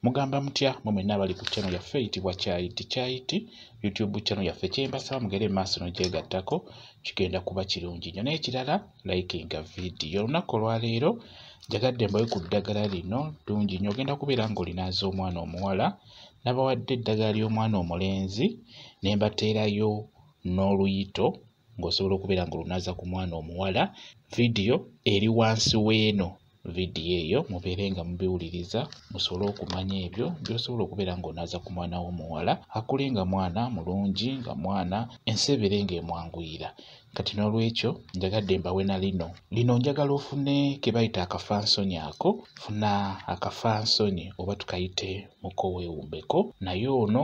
mugamba mutya mwe mwenna abali ku channel yaffe eyitibwa kyayiti kyayiti youtube channel yaffe kyembasaba mugere emaaso nogyegattako kigenda kuba kirungi nyo n'ekirala likinga vidiyo olunaku olwaleero njagadde mbawe ku ddagala lino ddungi nyo ogenda kubeera ng'olinaaza omwana omuwala nabawadde eddagala ly'omwana omulenzi nembateerayo n'oluyito ng'osobola okubeera ng'olunaza ku mwana omuwala vidiyo eri wansi w'eno vidiyo eyo mubeere nga mubiwuliriza musobole okumanya ebyo byosobola okubeera ng'onaaza ku mwana w'omuwala akule nga mwana mulungi nga mwana ensi ebeere ng'emwanguyira kati n'olwekyo njagadde mbawe na lino lino njagala ofune ke bayita akafansonyi ako funa akafansonyi oba tukayite mukoweewumbeko naye ono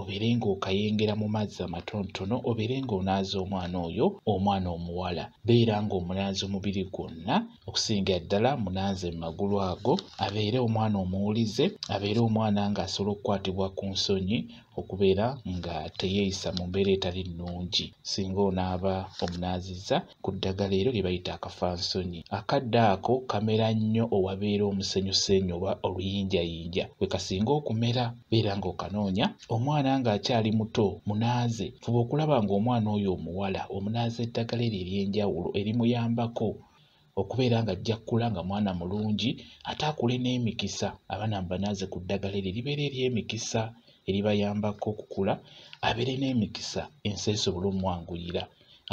obeere ng'okayengera mu mazzi amatonotono obeere ng'onaaza omwana oyo omwana omuwala beera ng'omunaaza omubiri gwonna okusingira ddala munaaze mu magulu ago abeere omwana omuwulize abeere omwana ng'asobola okukwatibwa ku nsonyi okubeera nga teyeeyisa mu mbeera etali nnungi singa onaaba omunaazizza ku ddagala eryo lye bayita akafansonyi. Akadde ako kamera nnyo owabeera omusenyusenyu oba oluyinjayinja we kasinga okumera. Beera ng'okanoonya. Omwana ng'akyali muto munaaze. Fuba okulaba ng'omwana oyo omuwala omunaaza eddagala eryo ery'enjawulo erimuyambako okubeera nga ajja kukula nga mwana mulungi ate akule n'emikisa abaana mubanaaze ku ddagala eryo eribeera ery'emikisa eribayambako okukula abeere n'emikisa ensi esobole omwanguyira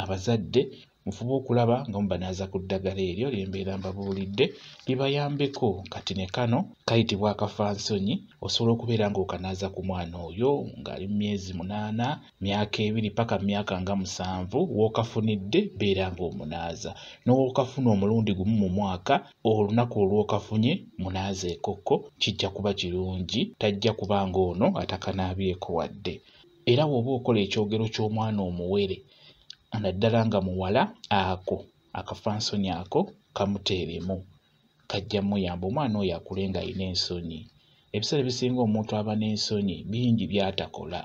abazadde mufube okulaba nga mubanaaza ku ddagala eryo lye mbeera mbabuulidde libayambeko kati ne kano kayitibwa akafansonyi osobola okubeera ng'okanaaza ku mwana oyo ng'ali mu myezi munaana myaka ebiri paka myaka nga musanvu w'okafunidde beera ng'omunaaza n'owokafuna omulundi gumu mu mwaka olunaku olw'okafunye munaaza ekokko kijja kuba kirungi tajja kuba ng'ono atakanaabyeko wadde era woba okola ekyogero ky'omwana omuwere naddala nga muwala ako akafansoni ako kamuteeremu kajja muyamba omwana oyo akule nga alina ensonyi ebiseera ebisinga omuntu aba n'ensonyi bingi byatakola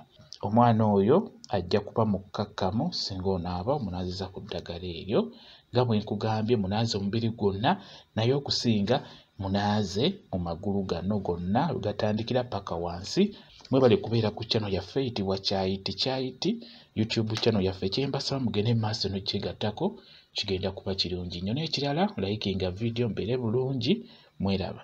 omwana oyo ajja kuba mukkakkamu singa onaaba omunaaziza ku ddagala eryo nga bwe nkugambye munaaza omubiri gwonna naye okusinga munaaze mu magulu gano gonna wegatandikira paka wansi mwebale kubeera ku channel yaffe eyitibwa kyayiti kyayiti youtube channel yaffe kyembasaba mugende maaso nokyegattako kigenda kuba kirungi nnyo n'ekirala layikinga vidiyo mbeere bulungi mweraba